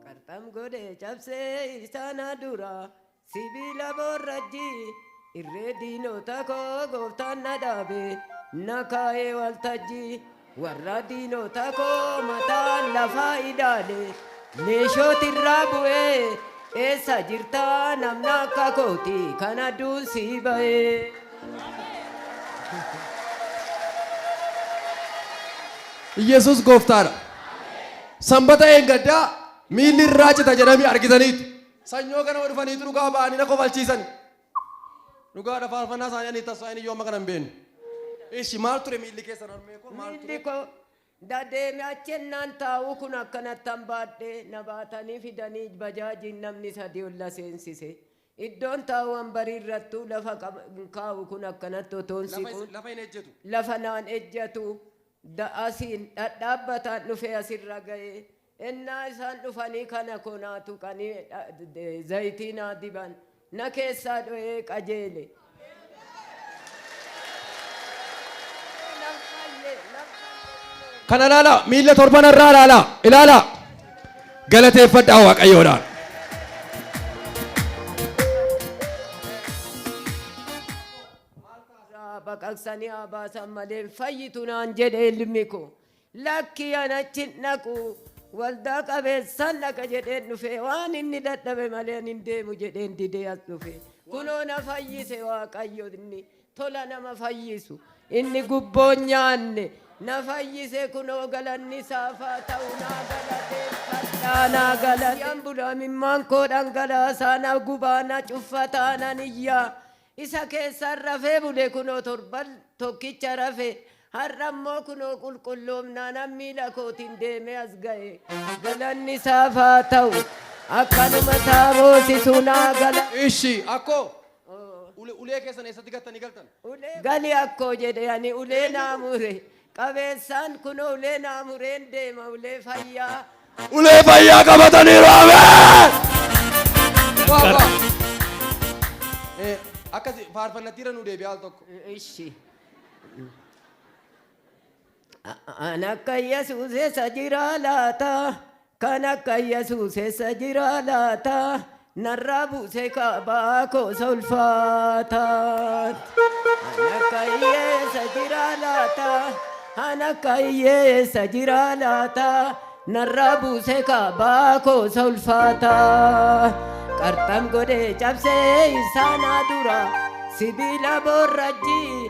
Qarxam godhe cabsee isaana dura sibiila borrajji irree diinota koo gooftaan na dhaabe na kaa'ee waltajji warra diinota koo mataan lafaa ilaale. Neeshooti irraa bu'ee eessa jirta namna akka kooti kan adduun sii ba'ee. Iyyasuus gooftaadha. Sanbata eengaddaa miilli irraa cita jedhamee argitaniitu. Sanyoo ganama dhufaniitu dhugaa ba'anii na kofalchiisan. Dhugaadha faarfannaa isaanii ani tassaa inni yoo amma kana hin beeknu. Ishi maal ture miilli keessan harmee koo maal ture? Miilli koo Da deeme achi ennaan taa'u kun akkanattan baadhe na baatanii fidanii bajaajiin namni sadii ol na seensise. Iddoon taa'u wanbarii irrattuu lafa qaba hin kaa'u kun akkanatti otoon Lafa is- siquun lafa hin ejjetu. lafa naan ejjatu da asiin dhadhaabbataan dhufee asirra ga'e Ennaa isaan dhufanii kana koo naa tuqanii zayitii naa diban, na keessaa dho'ee qajeele. Nan fayye, nan fayye kunoo. Kana ilaalaa miila torban irraa ilaalaa ilaalaa galateeffadhaa waaqayyoodhaan. Irraa baqaqsanii haa baasan malee hin fayyitu naan jedhe ilmi koo. Lakkii ani achi hin dhaqu, waldaa qabeessan dhaqa jedheen dhufe, waan inni dadhabe malee ani hin deemu jedheen didee as dhufe. Kunoo na fayyise Waaqayyo inni tola nama fayyisu, inni gubboo hin nyaanne na fayyise kunoo galanni isaaf haa ta'u naa galateeffadha, naa galateeffadha. Nan bula imimmaan koo dhangalaasaa, na gubaa, na cuffataa, nan iyyaa. Isa keessaan rafee bule kunoo torban tokkicha rafe, har'a immoo kunoo qulqulloomnaanan miila kootiin deemee as ga'e. Galanni isaaf haa ta'u! Akkanuma isaa boosisu naa gala. Ishi, akkoo! Ulee keessan eessatti gattanii galtan? Gali akkoo jedhe ani ulee naa mure. qabeessaan kunoo ulee naa mureen deema ulee fayyaa. Ulee fayyaa qabataniiru ameen. Waa, waa. Eh, Akkasi faarfannattiirra nu deebi'aa al tokko. Ishi. An akka Yesuus isa jira laata Kan akka Yesuus eessa jira laata? Narraa buusee kaabaa koo isa ulfaataan. Kan akka hiyyeessa jira laata? Kan akka hiyyeessa jira laata? Narraa buusee kaabaa koo isa ulfaataan. Qarxam godhee cabsee isaanaa dura sibiila boorrajjii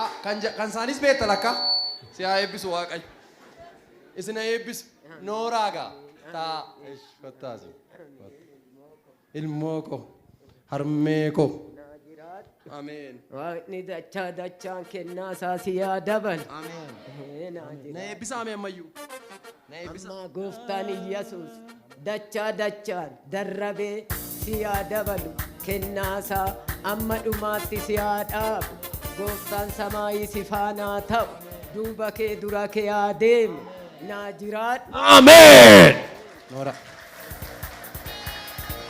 Ah, kan ja- kan isaaniis beekta lakka si haa eebbisu waaqayyo isin haa eebbisu nooraa gaa taa ish kottaasi ilmoo koo harmee koo ameen Waaqni dachaa dachaan kennaa isaa si yaa dabalu. ameen Ee, naa jira. na eebbisa ameen ammayyuu Na eebbisa. Ammaa gooftaan Iyyasuus dachaa dachaan darrabee si yaa dabalu kennaasaa amma dhumaatti si haa dhaabu gooftaan samaayii si faanaa ta'u duuba kee dura kee haa deemu naa jiraadhu. Ameen. Noora.